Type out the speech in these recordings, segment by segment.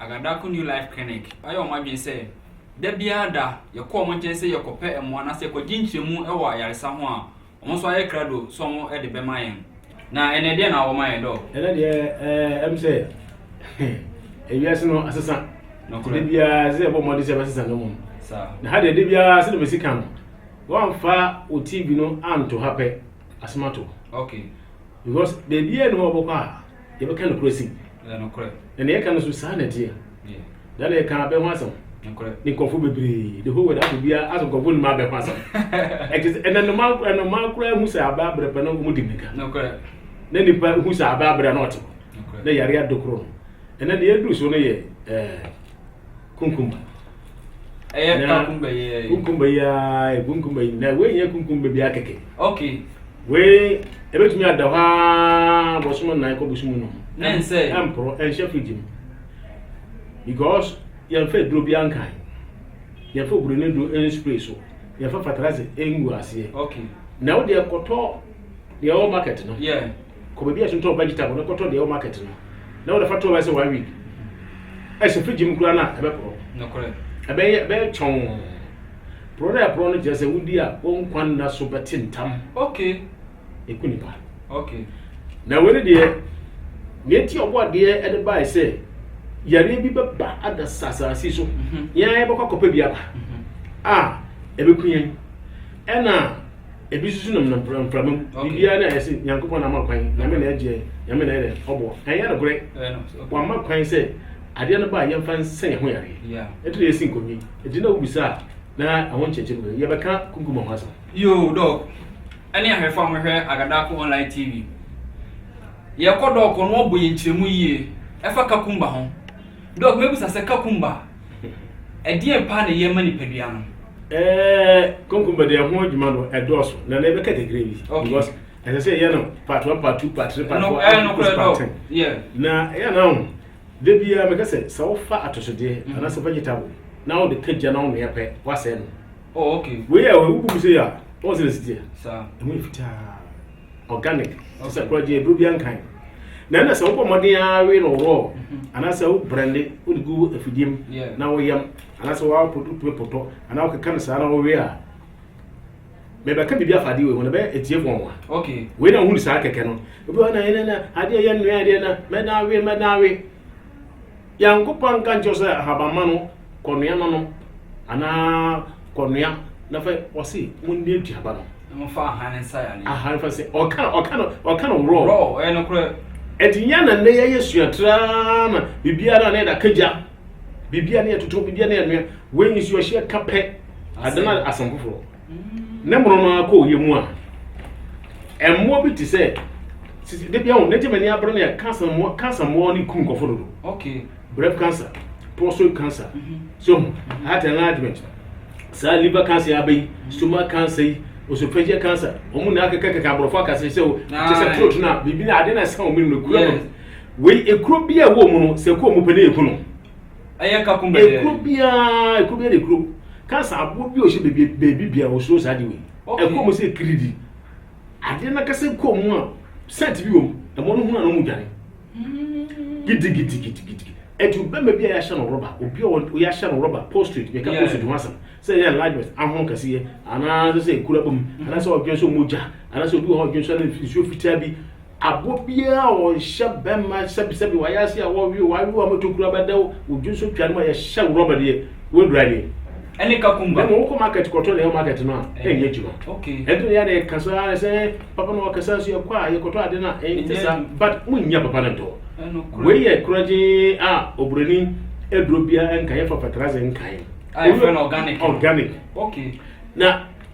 Agadako New Life Clinic ayɛ wɔn adwene sɛ da biara da yɛkɔ wɔn nkyɛn sɛ yɛkɔpɛ mmoa anaasɛ yɛkɔgye nkyerɛmu wɔ ayaresa ho a, wɔn nso ayɛ krado sɛ wɔde bɛma yɛn. Na ɛnnɛ, deɛn na wɔma yɛn, Dɔɔ? Ɛnnɛ deɛ, eh, ɛm sɛ ewiase no asesa. Nokorɛ. Da biara sɛ yɛbɔ mmɔden sɛ yɛbɛsesa no mmom. Saa. Na ha deɛ, da biara sɛdeɛ mesi ka no, woamfa wo TV no anto ha pɛ, asɛm ato. Okay. Because baabiara nni hɔ a wobɛkɔ a, Yɛbɛka nokorɛ asim. Ɛyɛ nokorɛ. Na nea yɛka no nso, saa na ɛteɛ. Yeah. Da na yɛka abɛ ho asɛm. Nokorɛ. Ne nkurɔfoɔ bebree. The whole world ato biara asɛ nkurɔfoɔ nim abɛ ho asɛm. Ɛte sɛ ɛna nnomaa nnomaa koraa hu sɛ abɛ abrɛ pɛ na wɔn di mmirika. Nokorɛ. Na nipa hu sɛ abɛ abrɛ na ɔte hɔ. Nokorɛ. Na yare adokoro no. Ɛna deɛ aduru so no yɛ ɛɛ. Kunkumba. Ɛyɛ Na- kakumba yi ɛ. Kunkumba yi ara yɛ kunkumba yi na wei nyɛ kunkumba biara kɛkɛ. Okay. Wei ebetumi ada hɔ ara bɔsɔm nnan kɔ bɔsɔm num. Ne nsɛ. Ɛmporo ɛnhyɛ fridge mu because yɛnfa aduro biara nkan. Yɛnfa oburoni duro nspray so. Yɛnfa fertilizer ngu aseɛ. Okay. Na wo deɛ kɔtɔ deɛ ɛwɔ market no. Yeah. Kɔ baabi a yɛtotɔn wo vegetable no kɔtɔ deɛ ɛwɔ market no na wode fa to bɛsɛ one week ɛhyɛ fridge mu koraa no a ɛbɛporɔ ɛbɛyɛ ɛbɛyɛ kyɔn porɔ no a ɛporɔ no kyerɛ sɛ wodi a wo nkwa nna so bɛte ntam okay ɛku nipa okay na wei ne deɛ nea enti ɔbɔ adeɛ ɛde bae sɛ yareɛ bi bɛba ada sasaase so mhm. yɛn bɛkɔ akɔpɛ bi aba mhm. a ɛbɛku yɛn ɛna Ebi susu nam nam mframa mframa mu. Biribiara na ayɛ sɛ Nyankopɔn na ama kwan, Nyame na agye yɛn, Nyame na ayɛ dɛ ɔboa. Ɛnyɛ nokorɛ. Wamma kwan sɛ adeɛ no ba a yɛmfa nsa yɛn ho yareɛ. Ɛtɔ yɛsi nkonnwa yi, ɛti na wobisa a na ɛho nkyɛkyɛ mu kɛkɛ. Yɛbɛka Kumkuma ho asɛm. Yoo Doc ɛne ahwɛfo a mohwɛ Agadako Online TV. Yɛkɔ Doc no ɔbɔ yɛn nkyerɛmu yie ɛfa Kakumba ho. Doc mɛbisa sɛ Kakumba Ɛdeɛn paa na ɛyɛ ma nipadua no? Eh, konkomba deɛ ɛho adwuma no ɛdɔɔso na na ɛbɛka kakra bi because ɛsɛ sɛ ɛyɛ no part one part two part three part four ɛnokora part ten na ɛyɛ na ho da biara mɛka sɛ sɛ wofa atosodeɛ mm-hmm. anaasɛ vegetable na wode ka gya na wonoɛ pɛ woasɛe no oh, wei a wobu mu sɛ yɛ a wɔn sɛ na sitiɛ ɛmu yɛ fitaa organic te sɛ korɔgye aduro bi ankan na ɛna sɛ wobɔ mmɔden ara we no raw mhm. anaasɛ wo brɛnde wode gu afidie mu na woyam anaasɛ wotumi potɔ anaa wokeka no saa na wowe a mebɛka biribi afa adeɛ wei ho na bɛyɛ ɛtie fɔn wa wei na wohunu saa kɛkɛ no obi wa na ɛnɛ na adeɛ yɛ nnuadeɛ na mɛdan we mɛdan we Nyankopɔn anka nkyerɛ wo sɛ ahabamma no kɔnoa na nom anaa kɔnoa na fa ɔse monni aduaba no. Na momfa ahan nsa yɛ aneɛ. Ahan fa sɛ ɔka no ɔka no ɔka no raw. Raw ɔyɛ no korɛ. Ɛti nyɛ na nnɛ yɛyɛ sua traa na biribiara na yɛde akagya biribiara na yɛtoto biribiara na yɛnoa wei nso yɛhyɛ ka pɛ adana asɛm foforɔ. ne mono no ara kɔ ɔyɛ mu a mmoa bi te sɛ sisi de bi ahun n'egye mani abere ne kansa mmoa kansa mmoa ne kum nkɔfo dodo okay breast cancer prostate cancer mhm. so ho mhm. heart enlargement saa liver cancer abɛ yi mhm. stomach cancer yi osophageal cancer wɔn nyinaa kɛkɛ kɛkɛ aborɔfo akasa sɛ o te sɛ throat na biribi na ade na ɛsɛn wɔn mu no ekura mu wei ekuro bi a ɛwɔ mu no sɛ ekuro mu pɛ ne ekunu. Ɛyɛ ka kum bɛyɛ. Ekuro biara ekuro biara de ekuro kansa aboɔ bi a ɔhyɛ beebi beebi bia ɔsoro saa de wei. Ɛkɔ mu sɛ kiridi. Adeɛ no kasa kɔ mu a sɛnt bi wɔ mu. Ɛmɔ no hunu ano mu dwane. Gidigidigidigidi. Ɛtu bɛma bi a yɛahyɛ no rɔba obi a yɛahyɛ no rɔba postrate yɛka postrate ho asɛm sɛ yɛ enlargement ahono kɛseɛ anaasɛ sɛ ekuro abɔ mu anaasɛ ɔdwen so mogya anaasɛ obi wɔ hɔ ɔdwen so ne nsuo fitaa bi Aboɔ biara a ɔnhyɛ bɛmma sɛbi sɛbi wayɛ ase a wɔwe wo awe wo ama tokuro abɛda wo wo dwo so twa no ma yɛhyɛ wo rɔba deɛ woadura nie. Ɛne kakumba. Mɛma wokɔ market kɔtɔ na ɛwɔ market no a ɛnyɛ adwuma. Okay. Ɛnti na yɛde ɛka so ara sɛ papa na ɔkasa nso yɛkɔ a yɛkɔtɔ ade no a ɛnte saa but monnya papa no ntɔ. Wei yɛ korɔgyee a oburoni aduro biara nka yɛfa fertilizer nkae. A yɛfrɛ no organic. Organic. Okay. Na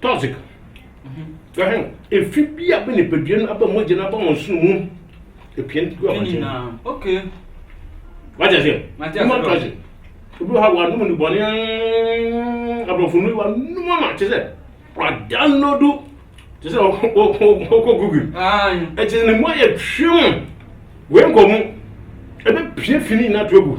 Toxic. Ɛhɛn, efi bi a bɛ nipadua no aba mogya no aba wɔn sono mu. Epia no gu Ne abɔnten. nyinaa. Okay. Wagye aseɛ? Mate aseɛ Human bro. trafficking. Obi wɔ ha wanom ne bɔne mm, aborɔfo nnuro yi wanom ama te sɛ wadownloadu te sɛ ɔkɔ- ɔkɔ ɔkɔ Google. Aye. Ɛkyɛ ne mu ayɛ twem. Wei nkɔ mu. Ɛbɛpie fi ne nyinaa to agu.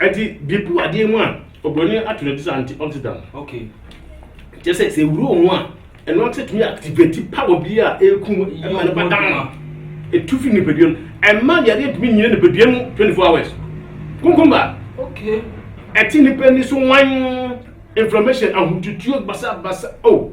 ɛti bipu adeɛ mu a oburoni ato ne ti sɛ anti oxidant okay kyɛ sɛ sɛ ewuro ho a ɛno nso tumi activate power bi a eku mu ɛma nipa dan etu fi nipadua mu ɛma yɛde ntumi nyina nipadua mu twenty four hours kunkumba okay ɛti nipa ni so wan inflammation ahotutuo basabasa oh.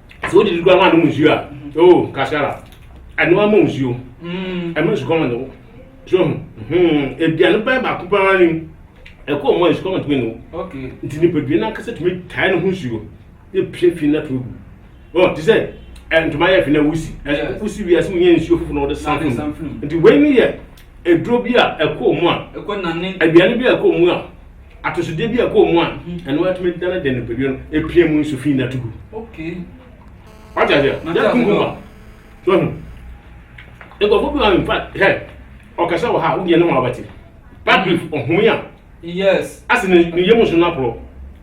sɛ wode di kura ho anom nsuo a o kasara ɛno ama nsuo mm. ɛma sukɔma ne wo so ho hmm. aduane bɛn baako paa ni ɛkɔ ɔmo a sukɔma tumi ne wo nti nipadua no ankasa tumi tae no ho nsuo ne pie fi na to gu ɔ te sɛ ntoma yɛ fi na wusi wusi wiase mu nyɛ nsuo foforɔ na wɔde san funu nti wei ne yɛ aduro bi a ɛkɔ wɔn mu a, aduane bi a ɛkɔ wɔn mu a, atosodeɛ bi a ɛkɔ wɔn mu a, ɛno atumi dane de nipadua no apia mu nso fi na to gu. Wate aseɛ? Yɛ kunkum a. So ahu. Nkurɔfoɔ bi wɔ in fact hɛ ɔkasa wɔ ha a wodeɛ ne ho abɛte. Patrick ɔhome a. Yes. Ase ne yam nso no aporɔ.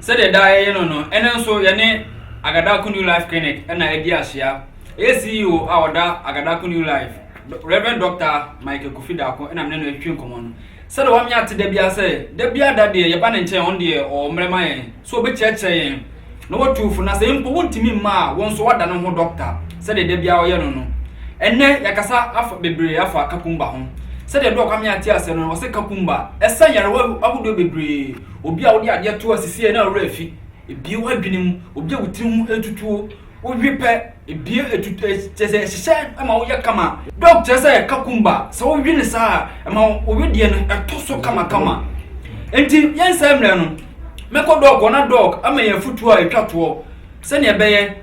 Sɛdeɛ daa yɛyɛ no no, ɛnnɛ nso yɛne Agadako New Life Clinic na adi ahyia. Ɛyɛ CEO a ɔda Agadako New Life, Rev. Dɔkta Michael Kofi Darko na me ne no retwetwe nkɔmmɔ no. Sɛdeɛ wamenya ate da biara sɛ, da biara da deɛ yɛba ne nkyɛn a, ɔno deɛ ɔwɔ mmerɛ ma yɛn sɛ ɔbɛkyerɛkyerɛ yɛn na watu wo fo, na sɛ mpo wontumi mma a, wo nso woada ne ho dɔkta sɛdeɛ da biara ɔyɛ no no. Ɛnnɛ yɛakasa afa bebree afa Kakumba ho. Sɛdeɛ Doc Amea te aseɛ no, ɔse Kakumba ɛsa nyarewa ahodoɔ bebree. Obi a wode adeɛ to asi sei na wo werɛ afi, bue w'adwene mu. Obi a wo tiri ho atutuo, wowe pɛ, bue atutuo, kyerɛ sɛ ɛhyehyɛ ma woyɛ kama. Dɔk kyerɛ sɛ kakumba, sɛ wowe no saa a, ɛma wo wedeɛ no ɛtɔ so kamakama. Enti yɛnsɛe mmerɛ no, mɛkɔ dɔk hɔ na dɔk ama yɛn afotuo a ɛtwa toɔ sɛdeɛ ɛbɛyɛ.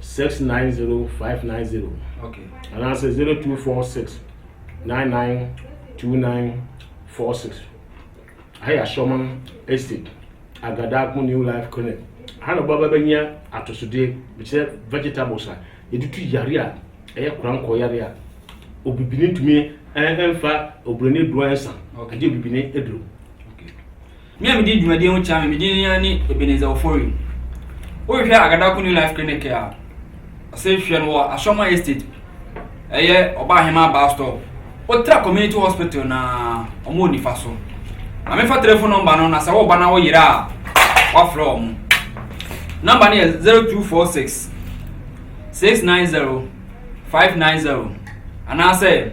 six nine zero five nine zero anaasɛ zero two four six nine nine two nine four six ha yɛ asɔman estate agadako new life clinic ha na ɔbaba bɛnya atosodeɛ kyerɛ vegetables a yɛtutu yare a ɛyɛ korankɔ yare a obibini ntumi ɛnfa obironi duro ɛnsa ɛgye obibini aduro Me a medi dwumadie ho kyɛa me, me din ara ne Ebenezer Ofori. Wohwehwɛ Agadako New Life Clinic a, ɔse hwɛ no wɔ Asroma Estate, ɛyɛ Ɔbaahemaa bus stop. Wotra Community Hospital no a, wɔn wɔ nifa so. Ma me fa telefon nɔmba no na sɛ wo ba na wo yere a, woafrɛ wɔn. Nɔmba no yɛ 0246 690 590 anaasɛ.